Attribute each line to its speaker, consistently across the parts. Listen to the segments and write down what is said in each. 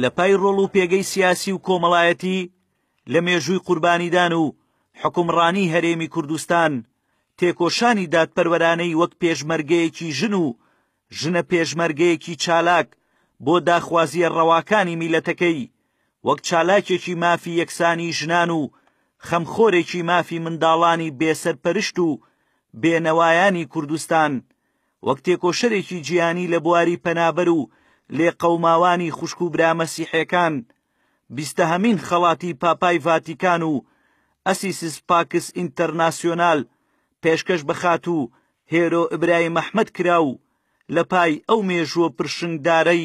Speaker 1: لە پای ڕۆڵ و پێگەی سیاسی و کۆمەڵایەتی لە مێژووی قوربانیدان و حکومڕانی هەرێمی کوردستان تێکۆشانی دادپەروەرانەی وەک پێشمەرگەیەکی ژن و ژنە پێشمەرگەیەکی چالاک بۆ داخوازیە ڕەواکانی میلەتەکەی وەک چالاکێکی مافی یەکسانی ژنان و خەمخۆرێکی مافی منداڵانی بێسەرپەرشت و بێنەوایانی کوردستان وەک تێکۆشەرێکی جیهانی لە بواری پەنابەر و لێقەوماوانی خوشک و برا مەسیحێکان، بیستەهەمین خەڵاتی پاپای ڤاتیکان و ئەسیسس پاکس ئینتەرناسیۆنال پێشکەش بە خاتوو هێرۆ ئبرایم ئەحمەد کرا و لە پای ئەو مێژووە پرشنگدارەی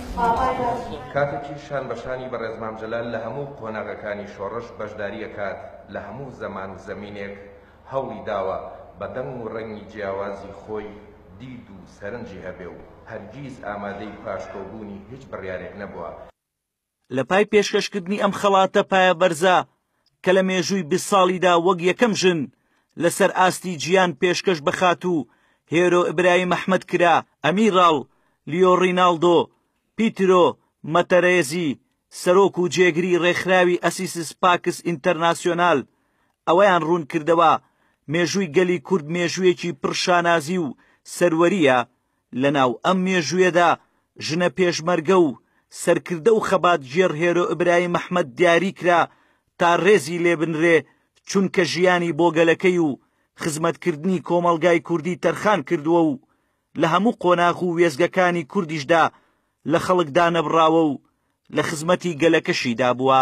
Speaker 2: کاتێکی شان بە شانی بەڕێز مام جەلال لە هەموو قۆناغەکانی شۆڕش بەشداری ئەکات لە هەموو زەمان و زەمینێک هەوڵی داوە بە دەنگ و ڕەنگی جیاوازی خۆی دید و سەرنجی هەبێ و هەرگیز ئامادەی پاشکۆبوونی هیچ بڕیارێک نەبووە. لە
Speaker 1: پای پێشکەشکردنی ئەم خەڵاتە پایەبەرزە کە لە مێژووی بیست ساڵیدا وەک یەکەم ژن لەسەر ئاستی جیان پێشکەش بە خاتوو هێرۆ ئیبراهیم ئەحمەد کرا، ئەمیراڵ لیۆ ڕیناڵدۆ پیترۆ مەتەرێزی سەرۆک و جێگری ڕێکخراوی ئەسیسس پاکس ئینتەرناسیۆنال ئەوەیان ڕوونکردەوە، مێژووی گەلی کورد مێژوویەکی پڕ شانازی و سەروەرییە، لەناو ئەم مێژوویەدا ژنە پێشمەرگە و سەرکردە و خەباتگێڕ هێرۆ ئیبراهیم ئەحمەد دیاری کرا تا ڕێزی لێ بنرێ چونکە ژیانی بۆ گەلەکەی و خزمەتکردنی کۆمەڵگای کوردی تەرخان کردووە و لە هەموو قۆناغ و وێستگەکانی کوردیشدا لە خەڵک دانەبڕاوە و لە خزمەتی گەلەکەشیدا بووە.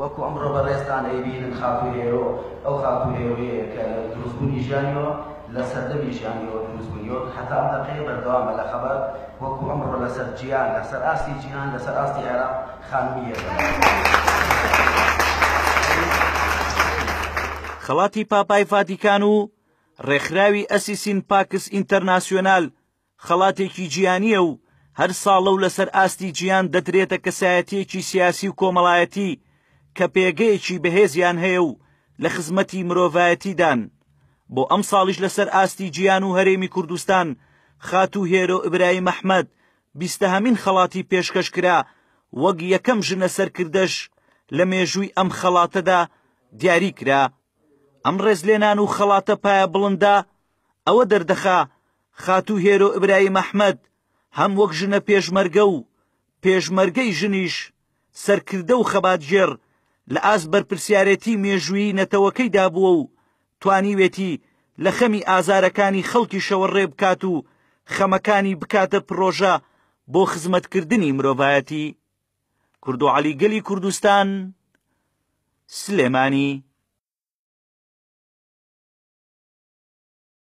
Speaker 3: وەکو ئەمڕۆ بەڕێزتان ئەیبینن خاتوو هێرۆ ئەو خاتوو هێرۆیەیە کە لە دروستبوونی ژیانیەوە لە سەردەمی ژیانیەوە دروستبووی و هەتا ئەم دەقەیە بەردەوامە لە خەبات وەکو ئەمڕۆ لەسەر جیهان لەسەر ئاستی جیهان لەسەر ئاستی عێراق خانمی یەکەمە.
Speaker 1: خەڵاتی پاپای ڤاتیکان و ڕێکخراوی ئەسیسین پاکس ئینتەرناسیۆنال خەڵاتێکی جیهانییە و هەر ساڵە و لەسەر ئاستی جیهان دەدرێتە کەسایەتییەکی سیاسی و کۆمەڵایەتی کە پێگەیەکی بەهێزیان هەیە و لە خزمەتی مرۆڤایەتیدان، بۆ ئەمساڵیش لەسەر ئاستی جیهان و هەرێمی کوردستان خاتوو هێرۆ ئیبراهیم ئەحمەد بیستەهەمین خەڵاتی پێشکەش کرا، وەک یەکەم ژنە سەرکردەش لە مێژووی ئەم خەڵاتەدا دیاری کرا. ئەم ڕێزلێنان و خەڵاتە پایەبڵندە ئەوە دەردەخا، خاتوو هێرۆ ئیبراهیم ئەحمەد هەم وەک ژنە پێشمەرگە و پێشمەرگەی ژنیش، سەرکردە و خەباتگێڕ لە ئاست بەرپرسیارێتی مێژوویی نەتەوەکەیدا بووە و توانیوێتی لە خەمی ئازارەکانی خەڵکیشەوە ڕێ بکات و خەمەکانی بکاتە پڕۆژە بۆ خزمەتکردنی مرۆڤایەتی. کوردو عەلی گەلی کوردستان، سلێمانی.